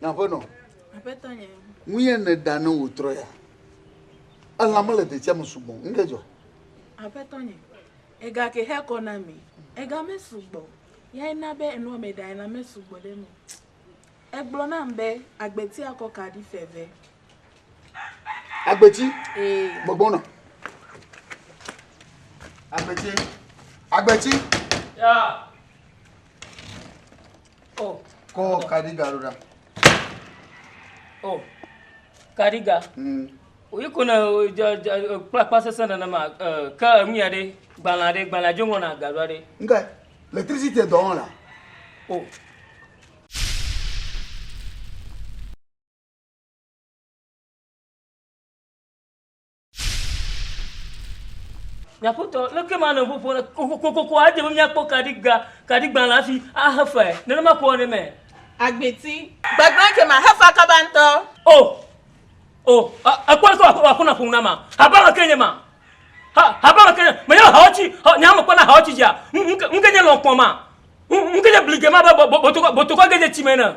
Nyaƒenɔ. Aƒetɔ nye. Nu ye nèɖa ne wòtrɔ ya? Elã mele detsiɛ me sugbɔ o. Nu ke dzɔ? Aƒetɔ nye. Ega ke xe kɔ na mi. Ega mesugbɔ o. Yae na be enua meɖae la mesugbɔ ɖe eme o. Egblɔ nam be agbeti akɔ kaɖi fe ve. Agbeti? Ee. Megbɔna. Agbeti. Agbeti. Ya. Oh. Kɔ kadiga ɖo ɖa. Oh. Kadiga. Mm. Oyi ko na kplakpla sese nenema ke enu ya ɖe gbalẽ aɖe gbalẽ adzo ŋɔ na gaɖo aɖe. Nga l'électricité dɔ wɔna. Oh. Nye aƒetɔ, leke ma nɔ ƒoƒo ne kokokoko adze be míakpɔ kaɖigba, kaɖigbalẽ hafi ahe fae? Nenema koe wɔnɛ me. Agbeti. Gbegblẽ ke ma hefa kaba ŋutɔ. O! O! Èkpɔe kɔ wò aƒenɔ ƒo nu na ma. Haba me ke nye ma. Ha, haba me ke nye. Menye hawo tsi, nye hã mekpɔna hawo tsi dzia. Nu ke nye lɔ̃ kpɔ ma. Nu ke nye blige ma be botokɔ, botokɔ ge dze tsi me ene.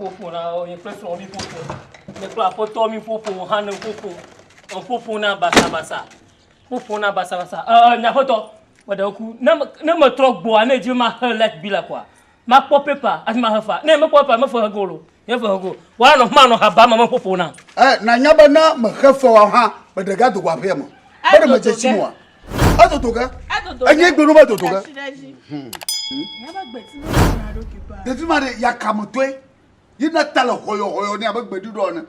ƒoƒo na wo nye kple srɔ̃ mi ƒoƒo nye kple aƒetɔ mi ƒoƒo hã ne ƒoƒo ƒoƒo na basabasa ƒoƒo na basabasa ɛɛ nye aƒetɔ meɖe ŋku ne ne metrɔ gbɔa ne edzi be maxe light bill koa. Makpɔ paper hafi mahe fa. Ne mekpɔ paper mefe he ge o lo. Nye fe he ge o. Woanɔ afi ma anɔ ha bam ame ƒoƒo nam. Ɛ, nànya be ne mexe fe wa hã, meɖe ge ado go aƒea me. Be ɖe medze tsi me oa? Edodo ge. Enye gbe ɖo be edodo ge. Ɖevi ma ɖe yakame tɔe. Ye na ta le hɔyɔhɔyɔ nɛ abe gbeɖuɖɔ ene.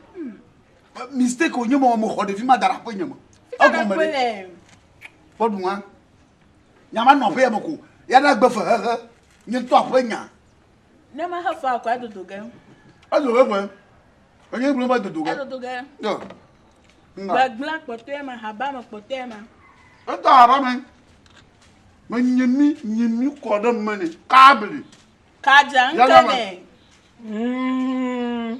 Mistake wònye mɔ mexɔ ɖevi ma da ɖe aƒe nye me. Egɔme ɖe. Kpɔ ɖu ŋa. Nya manɔ aƒea me ko. Ye na gbe fehehe. Nye ŋutɔ aƒe nya. Ne mahe faa o ko adodo ge. Ezo ɖe ƒe. Enye ŋgblɔ va dodo ge. Edodo ge. Yɔ. Gbegblẽ kpɔtɔe ma, haba me kpɔtɔe ma. Etɔ haba me. Me nye mi, nye mi kɔ ɖe me ne kabli. Kadza ŋke ne. Mm.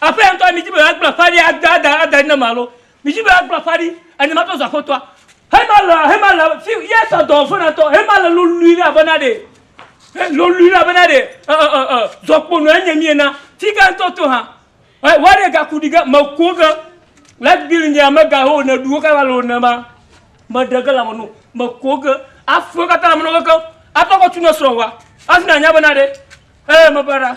Aƒea ŋutɔe midi be yeagblẽ aƒea ɖi ada ada ada ɖi nam alo midi be yeagblẽ aƒea ɖi eye matrɔ zu aƒetɔa. Hemale hemale fi ye sɔ dɔ vena tɔ hemale lolui ɖe abena ɖe he lolui ɖe abena ɖe e e e e zɔkpono enye mi ena fi ke ŋutɔ to hã e wa ɖe gaku ɖi ge mekuo ge le gbili nye amega ho ne ɖuwo ka va le ne ma meɖe ge le ame no mekuo ge afuwo katã le ame no keke atɔ kɔ tu ne srɔ̃ wa afi na nya bena ɖe e mebara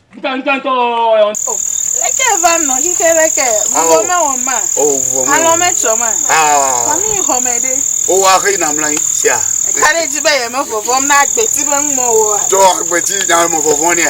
Leke va nɔ xixe ɖe ke, vuvɔ mewɔ ma, alɔ metsɔ ma, kɔnu yi xɔ me ɖe. Wowa xe yina mla yi sia. Eka ɖe dzi be yeme vɔvɔm na agbeti be ŋmɔ woa. Tɔ agbeti na me vɔvɔ nɛ.